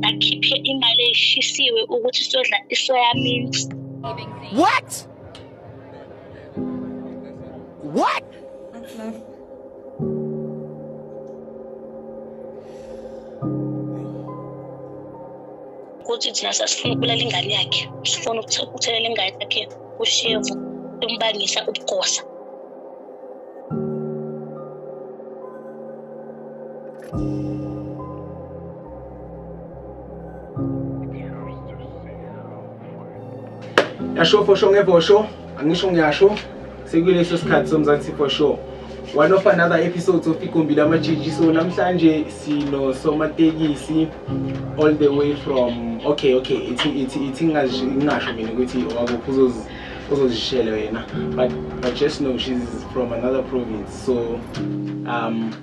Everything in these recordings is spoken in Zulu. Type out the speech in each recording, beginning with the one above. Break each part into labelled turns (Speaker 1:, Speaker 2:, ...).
Speaker 1: akhiphe imali eyishisiwe ukuthi sodla isoya mints what what ukuthi thina sasifuna ukubulala ingane yakhe sifuna ukuthelela ingane yakhe ushevu umbangisa ubugosa
Speaker 2: yasho for sure ngevho sure angisho ngiyasho sekuleso sikhathi somzansi for sure one of another episodes of igumbi lamatshitshi so namhlanje sinosomatekisi all the way from okay okay ithi ithi ithi ngingasho mina ukuthi wakuphi uzozi uzozishela wena but i just know she's from another province so um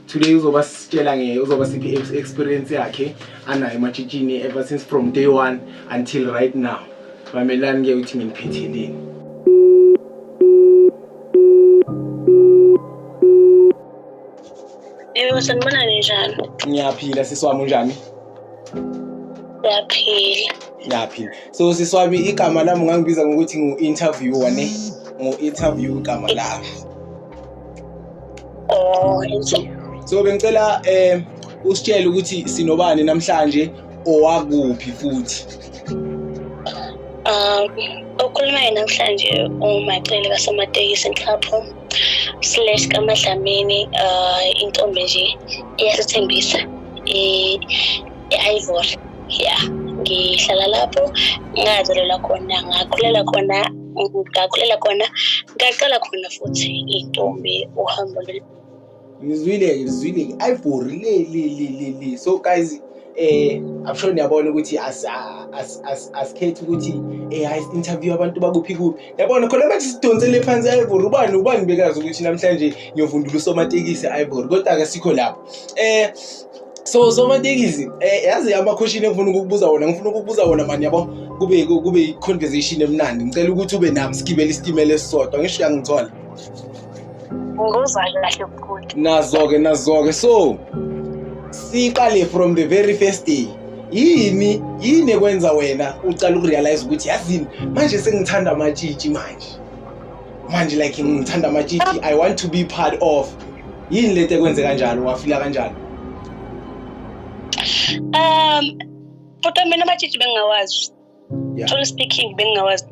Speaker 2: today uzoba sitshela nge uzoba siphi experience yakhe anayo ematshitshini ever since from day one until right now mamelani ke ukuthi nginiphetheleni
Speaker 1: Yebo sanibona ninjani? Ngiyaphila sisi wami
Speaker 2: unjani? Ngiyaphila.
Speaker 1: Ngiyaphila. So sisi wami
Speaker 2: igama lami ngangibiza ngokuthi ngu-interviewer ne? Ngu-interview igama lami. Oh, so bengicela eh usitshele ukuthi sinobani namhlanje owakuphi futhi. Um,
Speaker 1: okhulumayo namhlanje umacele kasamatekisi nhlapho slash kamadlamini uh, intombi nje iyasithembisa i-ivory ya ngihlala lapho ngazalelwa khona ngakhulela khona ngakhulela khona ngaqala khona futhi intombi uhambo ngizwile
Speaker 2: ngizwile ayibhorile li li li li so guys eh i'm sure niyabona ukuthi as as as as khethe ukuthi eh i interview abantu bakuphi kuphi yabona khona manje sidonsele phansi ayibhorile ubani ubani bekazi ukuthi namhlanje ngiyovundula usomatekisi ayibhorile kodwa ke sikho lapho eh so somatekisi eh yazi amakhoshini engifuna ukukubuza wona ngifuna ukukubuza wona mani yabo kube kube i conversation emnandi ngicela ukuthi ube nami sigibele isitimela esisodwa ngisho yangithola
Speaker 1: ngozwani kahle mkhulu nazo-ke nazo-ke
Speaker 2: so siqale from the very first day yini yini ekwenza wena ucala ukurealize ukuthi yazini manje sengithanda amatshitshi manje manje like ngithanda amatshitshi i want to be part of yini lento ekwenze kanjalo wafila kanjalo
Speaker 1: um futhi mina amatshitshi bengingawazi yeah. truly speaking bengingawazi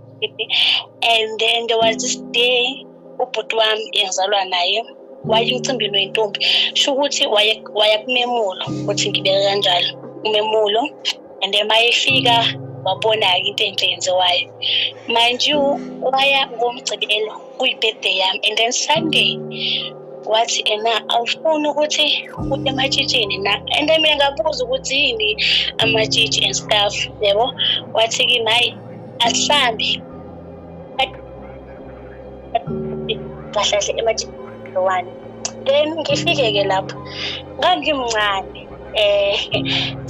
Speaker 1: and then there was this day ubhuti wami engizalwa naye wayemcimbini wentombi sho ukuthi waya kumemulo ukuthi ngibeke kanjalo umemulo and then mayefika wabona-ke into enhle yenziwayo mind you waya ngomgcibelo kuyibirthday yami and then sunday wathi ena awufuni ukuthi uye ematshitshini na and then mina ngabuza ukuthi yini amatshitshi and stuff yebo wathi kimi hayi asihambe kahlahle ematshitshini one then ngifike-ke lapho ngangimncane um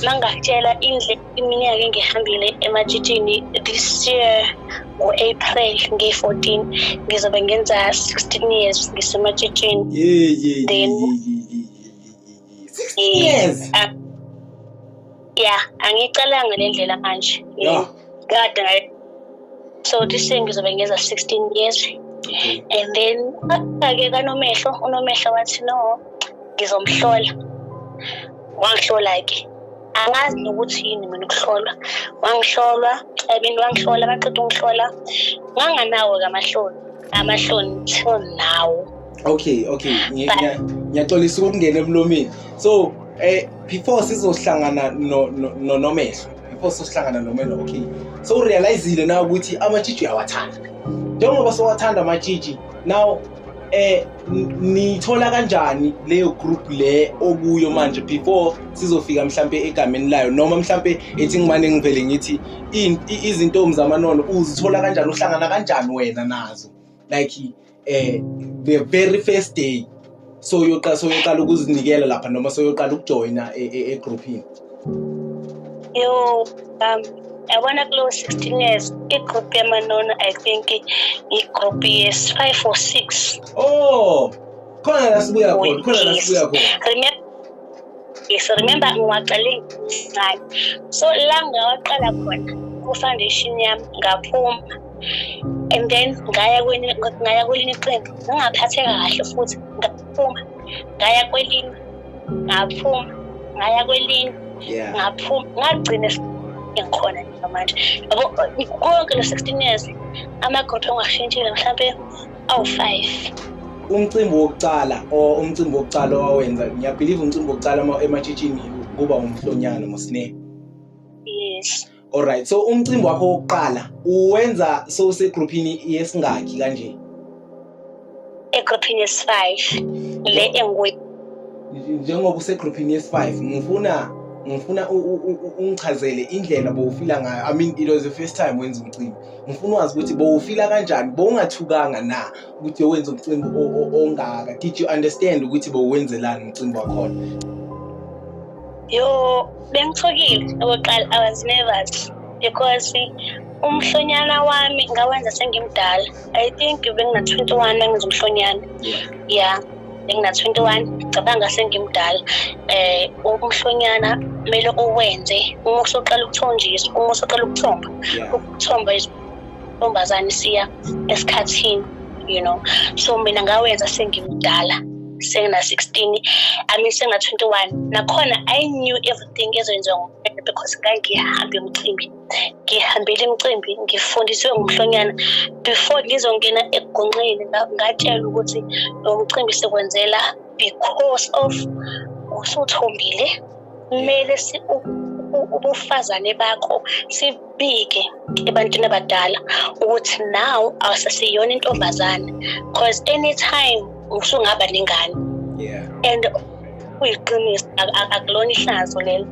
Speaker 1: mangakutshela indlela iminyaka engihambile ematshitshini this year ngo-april ngiyi-14 ngizobe ngenza 16 years ngisematshitshini then
Speaker 2: years ah, ya
Speaker 1: angicalanga le ndlela manje kade so this year ngizobe ngeza 16 years okay. and
Speaker 2: then
Speaker 1: ake kanomehlo unomehlo wathi no ngizomhlola wangihlola ke angazi nokuthi yini mina ukuhlolwa wangihlolwa ebintu wangihlola baqeda ungihlola nganganawo kamahloni amahloni till now okay okay
Speaker 2: ngiyaxolisa ukungena emlomeni so eh before sizohlangana nonomehlo before sosihlangana nomelo okay so urealizile na ukuthi amatshitshi uyawathanda njengoba sowathanda amatshitshi now eh nithola kanjani leyo group le okuyo manje before sizofika mhlambe egameni layo noma mhlambe ethi ngimane ngivele ngithi izintombi zamanono uzithola kanjani uhlangana kanjani wena nazo like eh the very first day so uyoqala so uyoqala ukuzinikela lapha noma so uyoqala ukujoyina egroupini yo um
Speaker 1: yabona kulo 16 years igroup yamanona i think igroup yes 5 or 6 oh khona la sibuya khona
Speaker 2: khona
Speaker 1: la
Speaker 2: sibuya khona yes
Speaker 1: remember ngiwaqale ngincane so la ngawaqala khona ku-foundation yami ngaphuma and then ngaya kwenye ngaya kwelinye iqembu ngingaphatheka kahle futhi ngaphuma ngaya kwelinye ngaphuma ngaya kwelinye ngaphuma ngagcina ngikhona nje manje yabo konke lo 16 years amagodo ongashintshile mhlampe awu-five umcimbi
Speaker 2: wokucala or umcimbi wokucala owawenza ngiyabhiliva umcimbi wokucala ematshitshini kuba umhlonyana mosine yes
Speaker 1: Alright, so
Speaker 2: umcimbi wakho wokuqala uwenza sowusegrouphini yesingaki kanje?
Speaker 1: Egrouphini yesi-5 le engikuyo. Njengoba
Speaker 2: usegrouphini yesi-5 ngifuna ngifuna ungichazele indlela bowufila ngayo i mean it was the first time wenza umcimbi ngifuna wazi ukuthi bowufila kanjani bowungathukanga na ukuthi wenza umcimbi ongaka did you understand ukuthi bowenzelani umcimbi wakhona yo
Speaker 1: bengithukile okokuqala i was nervous because umhlonyana wami ngawenza sengimdala i think bengina-21 bengenza umhlonyana ya yeah. bengina-21 cabanga sengimdala um umhlonyana kumele uwenze uma usuqala ukuthonjiswa uma usuqala ukuthomba ukuthomba ntombazane siya esikhathini you know so mina ngawenza sengimdala sengina-16 i mean senga-21 nakhona i knew everything ezoyenziwa ngumfana because ngangihambe umcimbi ngihambele imicimbi ngifundiswe ngumhlonyana before ngizongena egonqeni ngatshelwa ukuthi lo mcimbi sekwenzela because of usuthombile kumele ubufazane bakho sibike ebantwini abadala ukuthi now awusasiyona intombazane because anytime usungaba nengane and kuyiqiniso akulona ihlazo lelo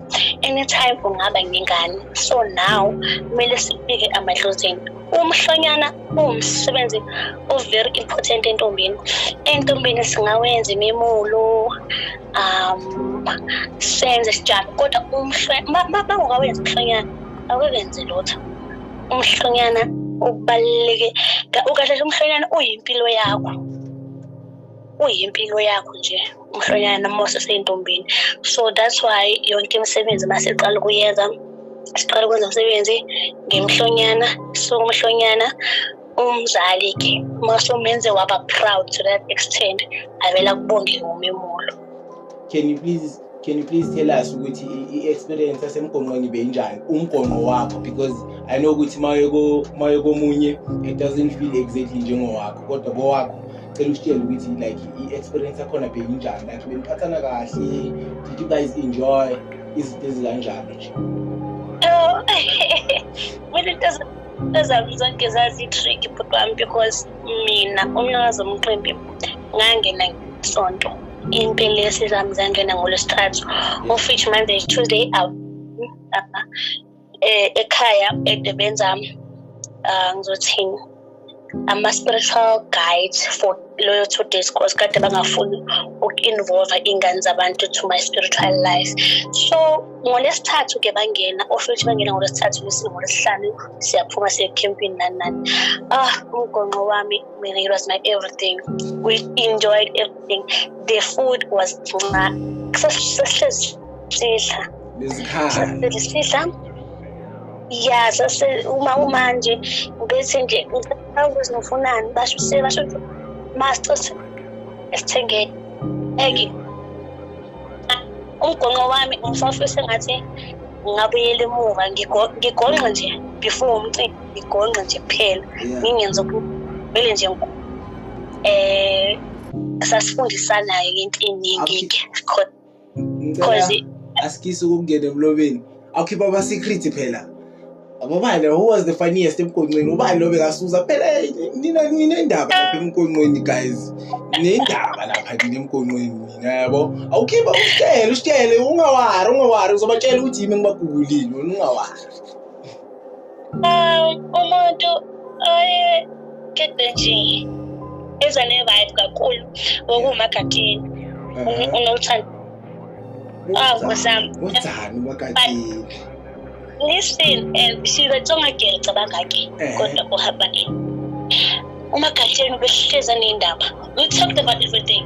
Speaker 1: anytime ungaba nengane so now kumele sibike amadlozini umhlonyana umsebenzi o-very important entombini entombini singawenza imimulo um senze sijalo kodwa bangokawenza umhlonyana awekenze lutho umhlonyana ubaluleke ukahle umhlonyana uyimpilo yakho uyimpilo yakho nje umhlonyana noma useseyintombini so that's why yonke imisebenzi uma siqala ukuyenza siqala ukwenza umsebenzi ngemhlonyana so umhlonyana umzali ke uma somenze waba proud to that extent avela kubonge ngomemulo can you
Speaker 2: please Can you please tell us ukuthi i-experience yasemgonqweni beyinjani umgonqo wakho because I know ukuthi maye komunye it doesn't feel exactly njengowakho kodwa kowakho cela usitshele ukuthi like i-experience yakhona beyinjani like beniphathana kahle did you guys enjoy izinto ezikanjalo nje
Speaker 1: mina into ezami zonke zazi-trick bhuti wami because mina umnikazi omqimbi ngangena sonto impilo yesizami zangena ngolwesithathu of which manje tuesday out eh, ekhaya edebeni zami ah, ngizothini ama-spiritual guide for loyo two days course kade bangafuni uku-involve iy'ngane zabantu to my spiritual life so ngolesithathu ke bangena osho ukuthi bangena ngolesithathu ngolesihlanu siyaphuma siye ekhempini nani nani ah umgonqo wami I mean, it was my everything. We enjoyed everything. The food was ya sase uma uma nje ubethi nje ukuthi nofunani basho sebasho master esithengeni eki umgonqo wami ngisafisa ngathi ngabuyela emuva ngigonqa nje before umcimbi ngigonqe nje kuphela ngingenza kumele nje um sasifundisanayo into eningi-ke because asikise
Speaker 2: ukungena emlobeni awukhipha ama-secret phela ababale who was the funniest emgonqweni ubani lobe kasuza phela nina ninendaba lapha emgonqweni guys nendaba lapha nina emgonqweni mina yabo awukhipha usitshele usitshele ungawari ungawari uzobatshela ukuthi yimi engibagugulile wena ungawari Um,
Speaker 1: umuntu oyekhethwe nje eza ne-vibe kakhulu ngokuwumagatini mm-hmm. unothando awu
Speaker 2: zami uthani umagatini
Speaker 1: listen and she's a tsonga girl cabanga ke eh. kodwa uhamba nini umagatini ubehleza nendaba we talked about everything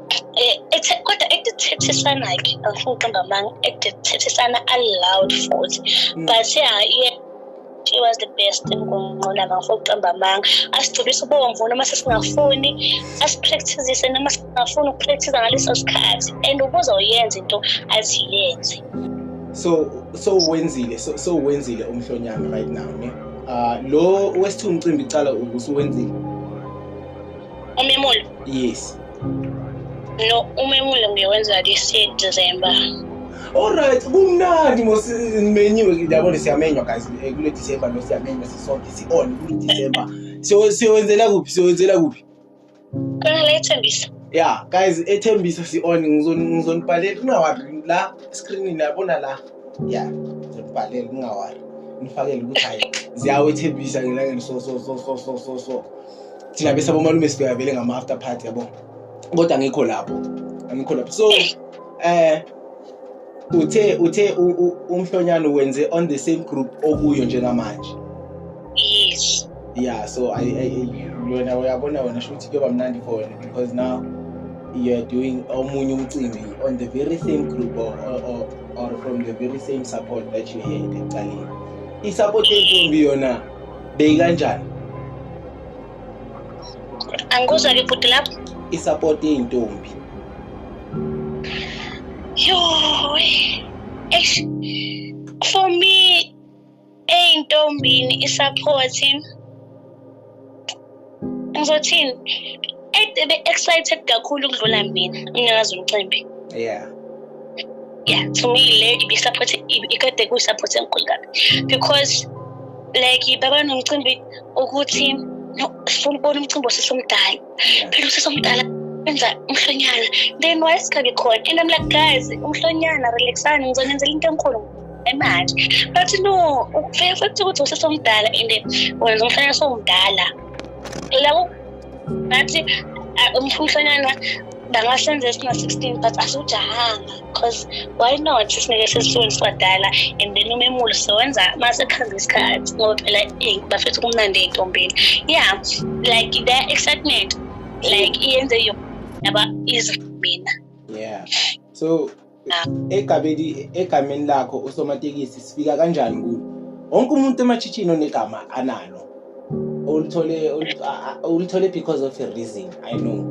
Speaker 1: Eh, kodwa ekuthethisana ke angifuni uqamba amanga ekuthethisana aloud futhi mm. but yeah yeah she was the best ngonqola ngafuna ukuqamba amanga asigcobisa ubomvu noma sesingafuni asipractisise noma singafuni ukupractisa ngaleso sikhathi and ukuze uyenze into athi yenze so
Speaker 2: so wenzile so, so wenzile umhlonyana right now ne uh, lo wesithu umcimbi cala ukusuwenzile
Speaker 1: umemulo yes no umemulo ngiyowenza this year december Alright,
Speaker 2: kumnandi mos menyiwe ndiyabona siyamenywa guys eh, kule December lo siyamenywa sisonke si-on kule December. So siyowenzela kuphi? Siyowenzela kuphi? Khona
Speaker 1: la ethembisa. Yeah, guys
Speaker 2: ethembisa si-on ngizonibhalela kungawari la screen niyabona la. Yeah, ngizonibhalela kungawari. Nifakele ukuthi hayi ziyawethembisa ngelangeni so so so so so so. thina bese abomalume sibheka vele ngama after party yabo kodwa ngikho lapho angikho lapho so eh uthe uthe umhlonyana wenze on the same group okuyo njengamanje yes
Speaker 1: yeah so
Speaker 2: i i yona uyabona wena shuthi kuyoba mnandi for wena because now you are doing omunye umcimbi on the very same group or, or, or from the very same support that you had ekuqaleni i-support yentombi yona beyikanjani
Speaker 1: angikuzwa ke bhuti lapho isupport
Speaker 2: yey'ntombi yo
Speaker 1: eish for me ey'ntombini isupport ngizothini ebe excited kakhulu ukudlula mina umnikazi umcimbi yeah
Speaker 2: yeah
Speaker 1: to me le ibisupport ikade kuyisupport enkulu kabi because like baba nomcimbi ukuthi sifuna ukubona umcimbi osesomdala phela usesomdala enza umhlonyana then wayesingabi khona and i'm like guys umhlonyana relaxani ngizonenzela into enkulu emali but no ufike futhi ukuthi usesomdala and wenza umfana somdala la ngathi umfumfanyana bangasenza esina-sixteen but asiwujahanga because why not sineke sesisuweni siwadala and then umemulo sizowenza uma sekuhamba isikhathi ngoba phela eh, bafetha kumnandi ey'ntombeni yeah like their excitement like iyenze yona yaba izimina yeah
Speaker 2: so egabeli egameni lakho usomatekisi sifika kanjani kulo wonke umuntu emachitshini onegama analo olithole olithole because of a reason i know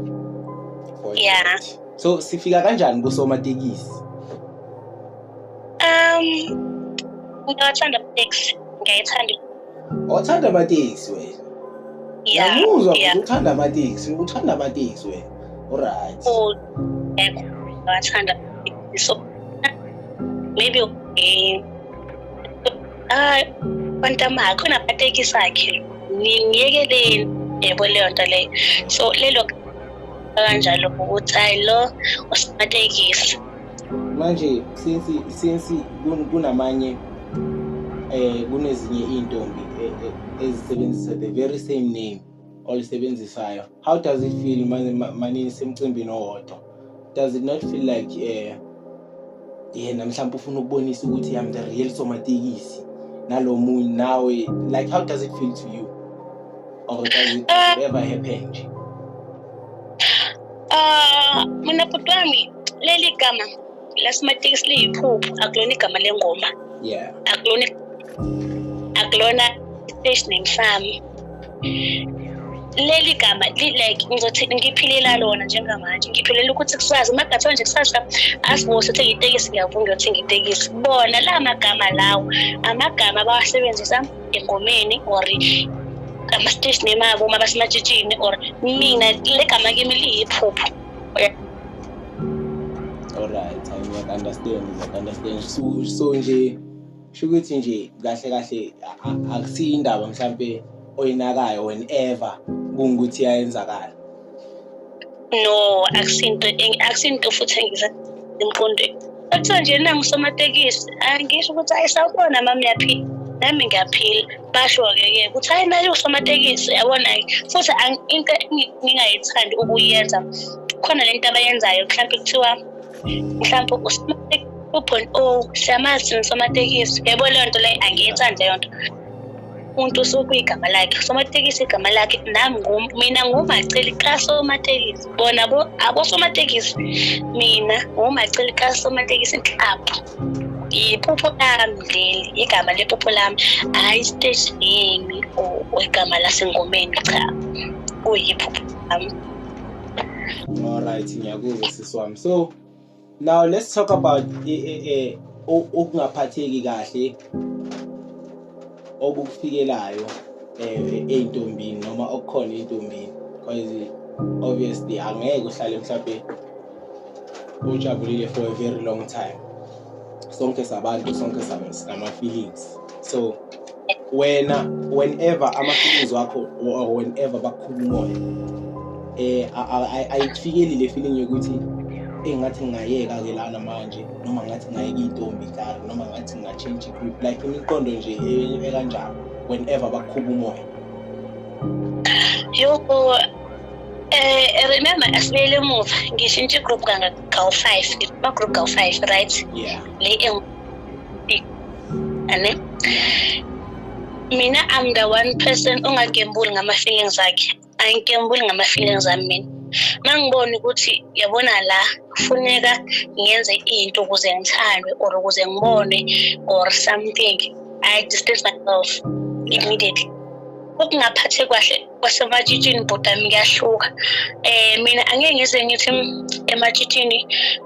Speaker 1: yeah so
Speaker 2: sifika kanjani kusomatekisi um
Speaker 1: ngiyathanda taxi ngiyayithanda
Speaker 2: Awuthanda amateksi wena. Yeah. Ngiyakuzwa yeah. ukuthi
Speaker 1: uthanda amateksi, uthanda amateksi wena. Alright. Oh, ngiyathanda. So maybe eh ah kwantama khona amateksi akhe. Ngiyekeleni yebo leyo nto leyo. So lelo kanjalo ukuthi hayi lo usimatekisi. manje
Speaker 2: since since kunamanye eh kunezinye izintombi eh, eh, ezisebenzisa the very same name olisebenzisayo how does it feel manini semcimbini owodwa does it not feel like eh yena mhlawumbe ufuna ukubonisa ukuthi i'm the real somatekisi nalo munye nawe like how does it feel to you or does it ever happen nje
Speaker 1: Ah, mina bhuti wami leli gama lasimatekisi liyiphupho akulona igama lengoma yeah akulona akulona station name sami leli gama like ngizothi ngiphilela lona njengamanje ngiphilela ukuthi kusazi magathiwa nje kusasa asibose ukuthi ngitekisi ngiyavuma ukuthi ngitekisi bona la magama lawo amagama abawasebenzisa engomeni or ama-stage name abo uma basematshitshini or mina le gama kimi liyiphupho
Speaker 2: alright ngiyaku-understand ngiyaku-understand so so nje sho ukuthi nje kahle kahle akusiyo indaba mhlampe oyinakayo whenever kungukuthi yayenzakala
Speaker 1: no akusinto akusinto futhi engiza emqondweni kuthiwa nje na ngusomatekisi angisho ukuthi hayi sawubona mama uyaphila nami ngiyaphila basho-ke ke ukuthi hayi naye usomatekisi yabona-ke futhi into ngingayithandi ukuyenza khona le nto abayenzayo mhlawumpe kuthiwa mhlawumpe usomatekisi ubhon o siyamazi somatekisi yebo leyo nto leyo angiyithandi leyo nto umuntu usuke igama lakhe usomatekisi igama lakhe nami mina ngumaceli kasomatekisi bona abosomatekisi mina ngumaceli kasomatekisi nhlapho yiphupho lami leli igama lephupho lami hhayi isiteji yimi or igama lasengomeni cha kuyiphupho lami
Speaker 2: alright ngiyakuzwa sisi wami so now let's talk about ukungaphatheki kahle okukufikelayo eh, ey'ntombini noma okukhona ey'ntombini because obviously angeke uhlale mhlawumbe ujabulile for a very long time sonke sabantu sonke sinama-feelings so wena whenever ama-feelings wakho or whenever bakhulu umoya eh ayifikeli le feeling yokuthi engathi ngingayeka ke lana manje noma ngathi ngayeka intombi kari noma ngathi nginga-change group like imiqondo nje e-, ekanjalo whenever bakhuba umoya yoko
Speaker 1: eh remember asibuyele emuva ngishintshe igroup kawu-five ba-group kawu-five right yeah le ane mina i'm the one person ongagembuli ngama-feelings akhe angigembuli ngama-feelings ami mina ma ngibone ukuthi yabona la kufuneka ngenze into ukuze ngithandwe or ukuze ngibone or something i distance myself immediately ukungaphathi kwahle kwasematshitshini bhodami kuyahluka um mina angeke ngize ngithi ematshitshini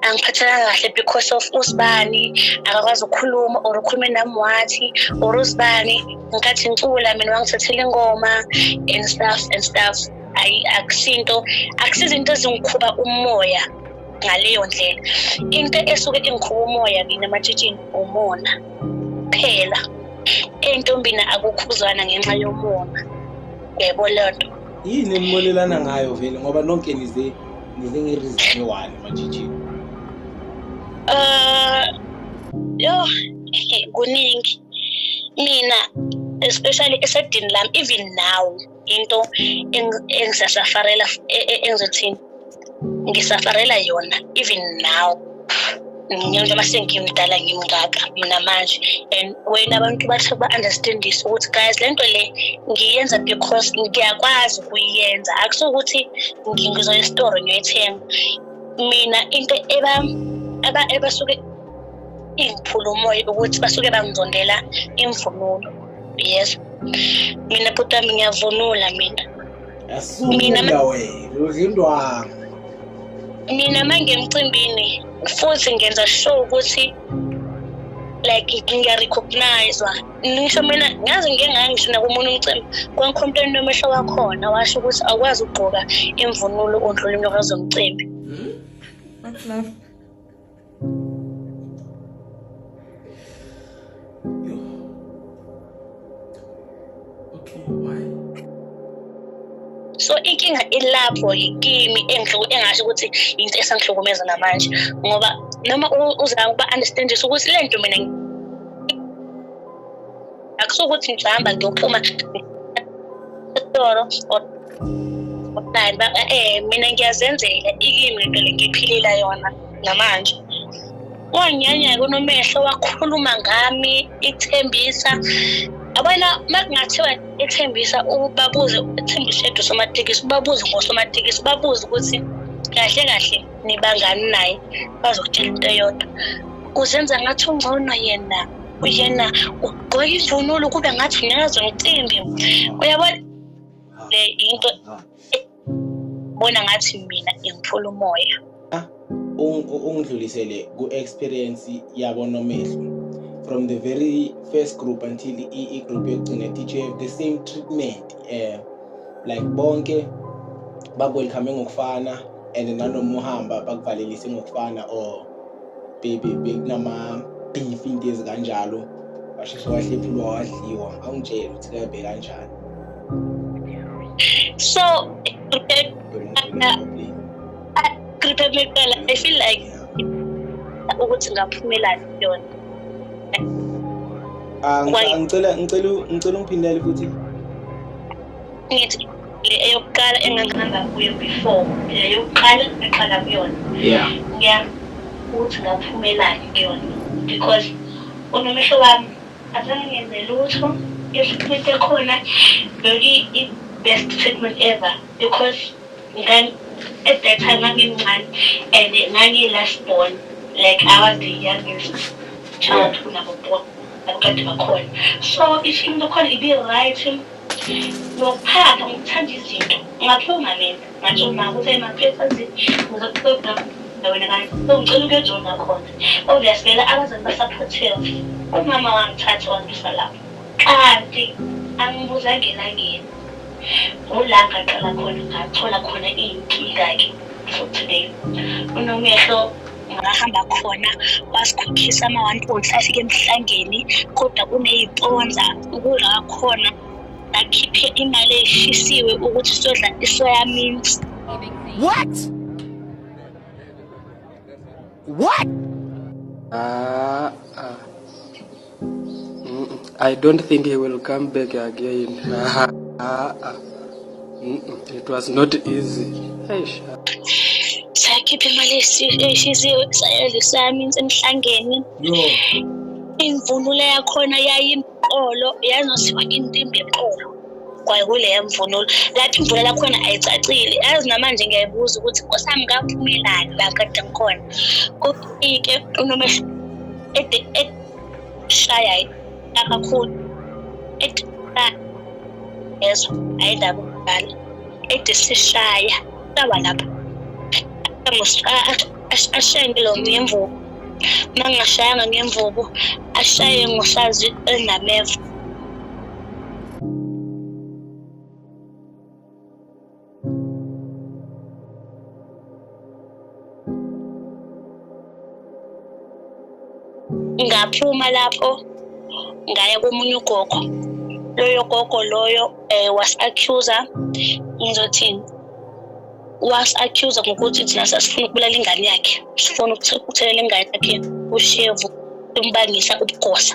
Speaker 1: angiphathekanga kahle because of usibani akakwazi ukukhuluma or ukhulume nami wathi or usibani ngikathi ngicula mina wangithathela ingoma and stuff and stuff ayi akusinto akusizinto ezingikhuba umoya ngaleyo ndlela into esuke ingikhuba umoya mina matshitshini umona kuphela entombini akukhuzana ngenxa yomona yebo leyo nto yini enibonelana
Speaker 2: ngayo vele ngoba nonke nize nize ngerizini one matshitshini um
Speaker 1: uh, yo kuningi mina especially esedini lami even now into engisasafarela e, e, engizothini ngisafarela yona even now njengoba sengimdala ngimngaka mina manje and wena abantu bathe ba-understandise ukuthi guys le nto le ngiyenza because ngiyakwazi ukuyenza akusukuthi ngizoya esitoro ngiyoyithenga mina into eba eba ebasuke ingiphula umoya ukuthi basuke bangizondela imvunulo yes mina bhuti wami ngiyavunula mina
Speaker 2: mina
Speaker 1: mina mangemcimbini futhi ngenza sure ukuthi like ngiyarecognizwa ngisho mina ngaze ngike ngangisho nakomunye umcimbi kwangikhompleni nomehlo wakhona washo ukuthi awukwazi ukugqoka imvunulo ondlula imntokazi zomcimbi hmm? so inkinga ilapho yikimi engasho ukuthi into esangihlukumeza namanje ngoba noma uzama ukuba-understandisa ukuthi le nto mina akusuke ukuthi ngihamba ngiyophuma esitoro eh mina ngiyazenzela ikimi lento le ngiphilela yona namanje wanyanya kunomehlo wakhuluma ngami ithembisa abana makungathiwa ethembisa ubabuze ethembisa edu somatekisi ubabuze ngosomatekisi ubabuze ukuthi kahle kahle nibangani naye bazokutshela into eyodwa kuzenza ngathi ungcono yena yena ugqoka ivunulo kube ngathi unyakaza umcimbi uyabona le into bona ngathi mina ngiphula umoya ah, ungidlulisele
Speaker 2: ku-experience yabo nomehlo from the very first group until i-group yokugcina teach you have the same treatment um like bonke bakwelkhame ngokufana and nanomuhamba bakuvalelise ngokufana or bekunama-beef into ezikanjalo washeshe wahlephulwa wadliwa awungitshele ukuthi kabe kanjani
Speaker 1: so gripe mipela i feel like ukuthi ngaphumelani kuyona ah,
Speaker 2: ngicela ngicela ngicela ungiphindele futhi
Speaker 1: ngithi le eyokuqala engangihamba kuyo before le yokuqala ngiqala kuyona yeah ngiya ukuthi ngaphumelani kuyona because unomehlo wami azange ngenze lutho i-treatment ekhona beki i-best treatment ever because then at that time ngangimncane and ngangiyi-last born like i was the youngest child kunabo bonke abakade bakhona so i-treatment ekhona ibi-right Ngokuphaka ngokuthanda izinto ngakhe ungalenza manje uma ukuthi emaphepha nje ngizokuxoxa wena kanti songicela ukuyojona khona obviously la abazali basaphothela umama wangithatha wangisa lapho kanti angibuzanga elangeni ngola ngaqala khona ngathola khona iy'nkinga-ke for today unomehlo ngahamba khona wasikhokhisa ama-one point five ke emhlangeni kodwa kuneyiponza ukudla kwakhona akhiphe imali eyishisiwe ukuthi sodla isoya mint what
Speaker 3: what
Speaker 4: ah, ah. I don't think he will come back again. Ah, ah, ah. It was not easy. Eish.
Speaker 1: Sakhipha imali eshiziwe sayedla sami emhlangeni. Yo. Imvunulo yakhona yayimpolo yazosiwa intimbi eqolo. Kwaye kuleya mvunulo lapho imvula lakhona ayicacile yazi namanje ngiyayibuza ukuthi nkosami ngaphumelani la kade ngikhona kufike unomehluko shaya kakhulu ezwa ayindaba umdala ede sishaya sawa lapho ashaye ngilo ngemvubu uma ngingashayanga ngemvubu ashaye ngosazi enameva ngaphuma lapho ngaya komunye ugogo loyo gogo loyo um eh, was-accuser ngizothini was-accuser ngokuthi thina sasifuna ukubulala ingane yakhe sifuna ukuthelela ingane yakhe ushevu simbangisa ubugosa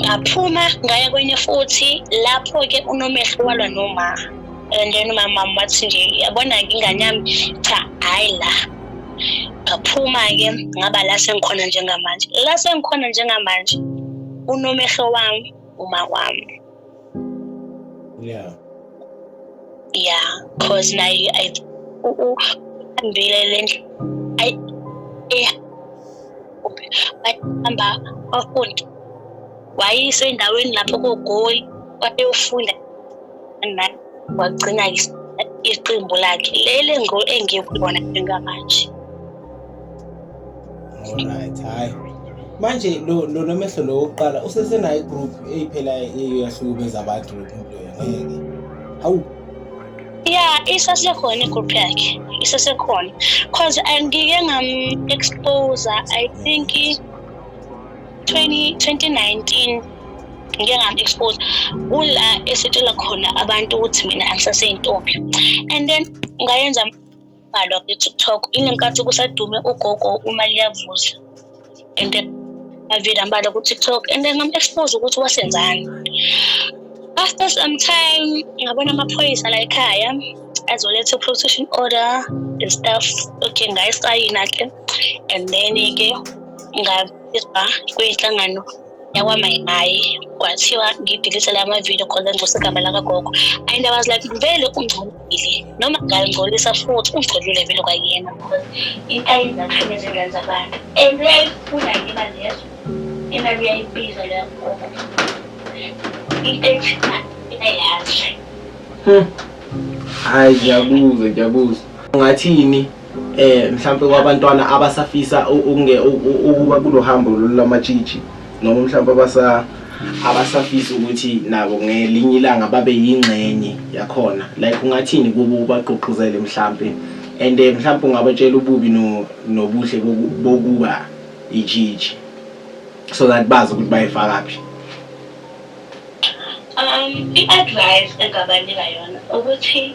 Speaker 1: ngaphuma ngaya kwenye futhi lapho-ke unomehlo walwa noma and then umama wathi nje yabona-ke ingane yami cha hhayi la ngaphuma-ke ngaba la sengikhona njengamanje la sengikhona njengamanje unomehlo wami uma wami yeah yeah cause naye i uhambile le ndlela bahamba bafunde wayise endaweni lapho kogoli wayeyofunda nani wagcina iqembu lakhe leli engikulona njengamanje
Speaker 2: Alright, hayi. Manje lo lo nomehlo lo oqala usesenayo igroup eyiphela eyahlukumeza abantu lo muntu loyo ngeke. Hawu. Yeah, isasekhona
Speaker 1: igroup yakhe. Isasekhona. Cause angike ngam expose I think 20 2019 ngike ngam-expose kula esitshela khona abantu ukuthi mina angisaseyintombi and then ngayenza bhalwa kwi-tiktok inenkathi kusadume ugogo uma liyavuza and avile ambala ku-tiktok and then ngam-expose ukuthi wasenzani after some time ngabona amaphoyisa la ekhaya azoletha protection order and stuff okay ngayisayina ke and then ke ngabizwa kwinhlangano yakwamayimayi kwathiwa ngidilise la mavidiyo khona ngcosa igama lakagogo and i was like vele ungcolile noma ngangcolisa futhi ungcolile vele kwakuyena intayini athini ezingane zabantu and uyayifuna ngiba lezo imali uyayibiza leyo gogo into ethina
Speaker 2: iyayazi hayi ngiyabuza ngiyabuza ungathini eh mhlawumbe kwabantwana abasafisa ukunge ukuba kulohambo lolamatshitshi noma mhlawumbe abasa abasafisa ukuthi nabo ngelinye ilanga babe yingxenye yakhona like ungathini kubo ubagqugquzele mhlampe and eh, mhlawumbe ungabatshela ububi nobuhle bokuba ijiji so that bazi ukuthi bayifakaphi um
Speaker 1: i-advice engabanika yona ukuthi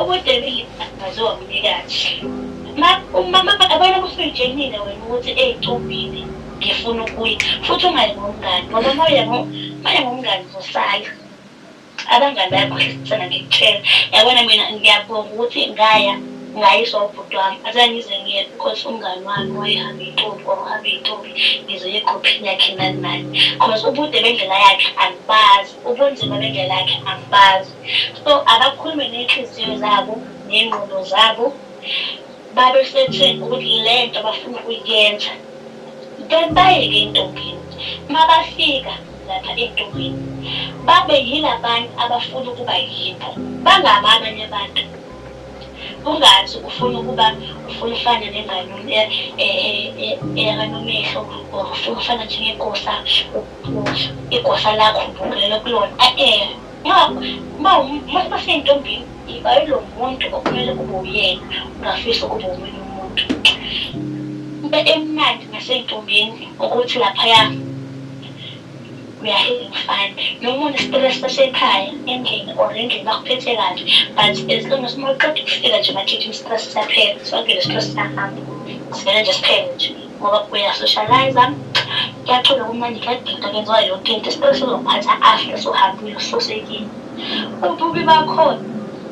Speaker 1: Ubudebile aziwa mnikazi. Umama abona kusijenile wena ukuthi eyicobile ngifuna ukuya futhi ungayi ngomngani ngoba moya moya ngomngani uzosala abangani bayakhohlisana ngikutshela yabona mina ngiyabonga ukuthi ngaya Ngayizwa ubhuti wami azange ngize ngiyebe because umngani wami wayehambe intombi kwakuhambe intombi ngize egrouphini yakhe nani nani because ubude bendlela yakhe angibazi ubunzima bendlela yakhe angibazi so abakhulume ney'nhliziyo zabo ney'ngqondo zabo babe setheni ukuthi le nto abafuna ukuyenza then bayeke entombini uma bafika lapha entombini babe yilabantu abafuna ukuba yibo bangabi abanye abantu Ungathi ufuna ukuba ufuna ufane nenganoni eyakanomehlo or ufuna ufana njengegosa igosa lakho ubukele kulona a-e uma usentombini iba yilo muntu okumele kube uyena ungafisi ukuba omunye umuntu into emnandi ngasentombini ukuthi laphaya uyahluza ngifane noma unesitelesi sasekhaya endlini or endlini bakuphethe kabi but as long as uma uqeda ukufika nje bathithi isitilesi siyaphela sonke le sitilesi siyahamba sivele nje siphele nje ngoba uyasocializa kuyacula kumnandi kuyadida kwenziwa yonke into isitilesi sizokuphatha after sohambile ususekile ububi bakhona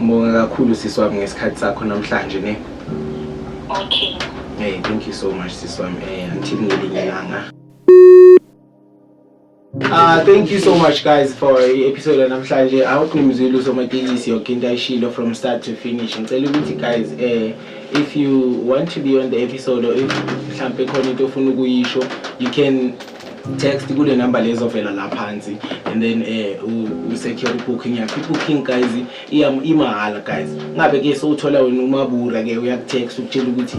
Speaker 1: Ngibonga
Speaker 2: kakhulu sisi wami ngesikhathi sakho namhlanje ne. Okay.
Speaker 1: Hey, thank
Speaker 2: you so much sisi wami. Eh, until ngelinye ilanga. Uh, thank you so much guys for i-episode yanamhlanje i hope nimzwile usomatekisi yoke into ayishilo from start to finish ngicela ukuthi guys eh if you want to be on the episode or if mhlampe khona into ofuna ukuyisho you can text kule number lezovela la phansi and then eh usecure booking yakho booking guys iyam imahhala guys ngabe ke sowuthola wena umabura ke uyakutext ukutshela ukuthi